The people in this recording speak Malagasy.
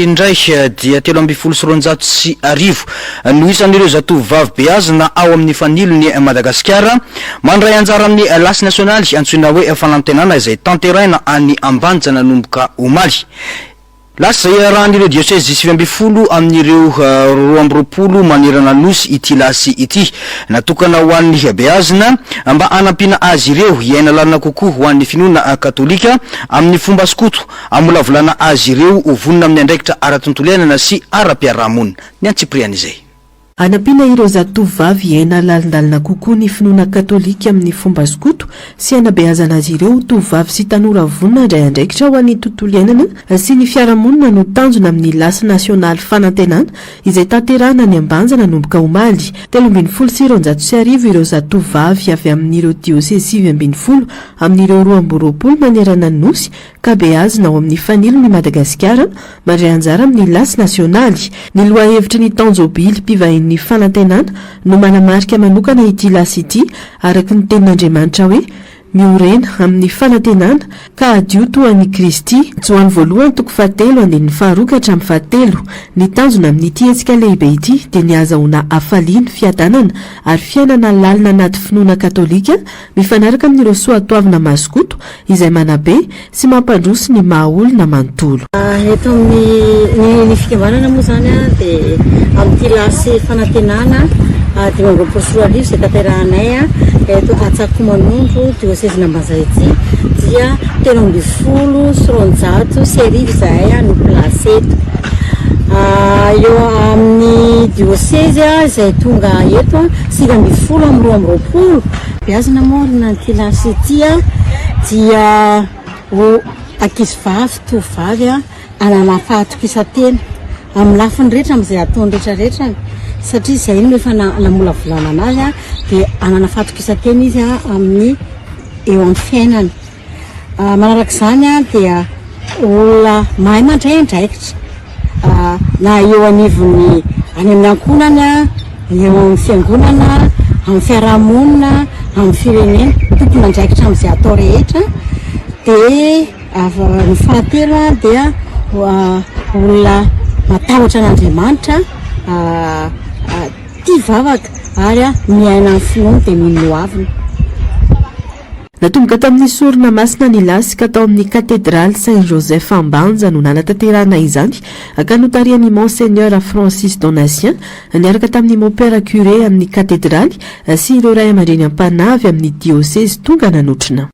indray dia telo ambin'ny folo sy roanjato sy arivo no isan'ireo zatovovavy beazina ao amin'ny Fanilon'i Madagasikara mandray anjara amin'ny lasy nasionaly antsoina hoe Fanantenana izay tanteraina any Ambanja nanomboka omaly. Lasy izay iarahan'ireo diosezy sivy ambin'ny folo amin'ireo roa amby roapolo manerana Nosy ity lasy ity. Natokana ho an'ny beazina mba hanampiana azy ireo hiaina lalina kokoa ho an'ny finoana katolika amin'ny fomba skoto Hamolavolana azy ireo ho vonona amin'ny andraikitra ara-tontolo iainana sy ara-piarahamonina. Ny antsipirihan'izay. Hanampiana ireo zatovovavy hiaina lalindalina kokoa ny finoana katolika amin'ny fomba skoto sy hanabeazana azy ireo ho tovovavy sy tanora vonona handray andraikitra ho an'ny tontolo iainana sy ny fiarahamonina no tanjona amin'ny Lasy Nasionaly Fanantenana izay tanterahina any Ambanja nanomboka omaly telo ambin'ny folo sy roanjato sy arivo ireo zatovovavy avy amin'ireo diosey sivy ambin'ny folo amin'ireo roa amby roapolo manerana ny Nosy ka beazina ao amin'ny fanilony i Madagasikara mandray anjara amin'ny lasy nasionaly. Ny lohahevitry ny taon-jobily mpivahin'ny fanantenana no manamarika manokana ity lasy ity araka ny tenin'Andriamanitra hoe, Miorena amin'ny fanantenana, ka hadio toa an'i Kristy. Joany voalohany toko fahatelo andininy faharoa ka hatramin'ny fahatelo. Ny tanjona amin'ity hetsika lehibe ity dia ny hahazahoana hafaliany, fiadanana ary fiainana lalina anaty finoana katolika, Mifanaraka amin'ireo soatoavina mazokoto izay manabe sy mampandroso ny maha olona manontolo. Eto amin'ny ny fikambanana moa izany dia amin'ity lasy fanantenana dimy amby roapolo sy roa arivo izay tanterahanay eto Antsakomanondro diosezin'Ambanjaha ity dia telo ambin'ny folo sy roanjato sy arivo izahay no mpilasy eto. Eo amin'ny diosezy izay tonga eto Sivy ambin'ny folo amin'ny roa amby roapolo. Beazina moa ry Nantilasy ity a, dia ho ankizivavy tovovavy hanana fahatokisan-tena amin'ny lafiny rehetra amin'izay ataony rehetra rehetra satria izay no efa namolavolana anazy dia hanana fahatokisan-tena izy amin'ny eo amin'ny fiainany. Manaraka izany dia olona mahay mandray andraikitra na eo anivon'ny any amin'ny ankohonany, ny eo amin'ny fiangonana, amin'ny fiarahamonina, amin'ny firenena, tompon'andraikitra amin'izay atao rehetra. Dia ny fahatelo dia olona matahotra an'Andriamanitra, tia vavaka ary miaina ny finoany dia mino hoaviny. Natomboka tamin'ny sorona masina ny lasy ka tao amin'ny Katedraly Saint Joseph Ambanja no nanatanterahana izany ka notarihan'i Monseigneur Francis Donatien niaraka tamin'ny Mopera Curé amin'ny Katedraly sy ireo Ray aman-dreny am-panahy avy amin'ny Diosezy tonga nanotrona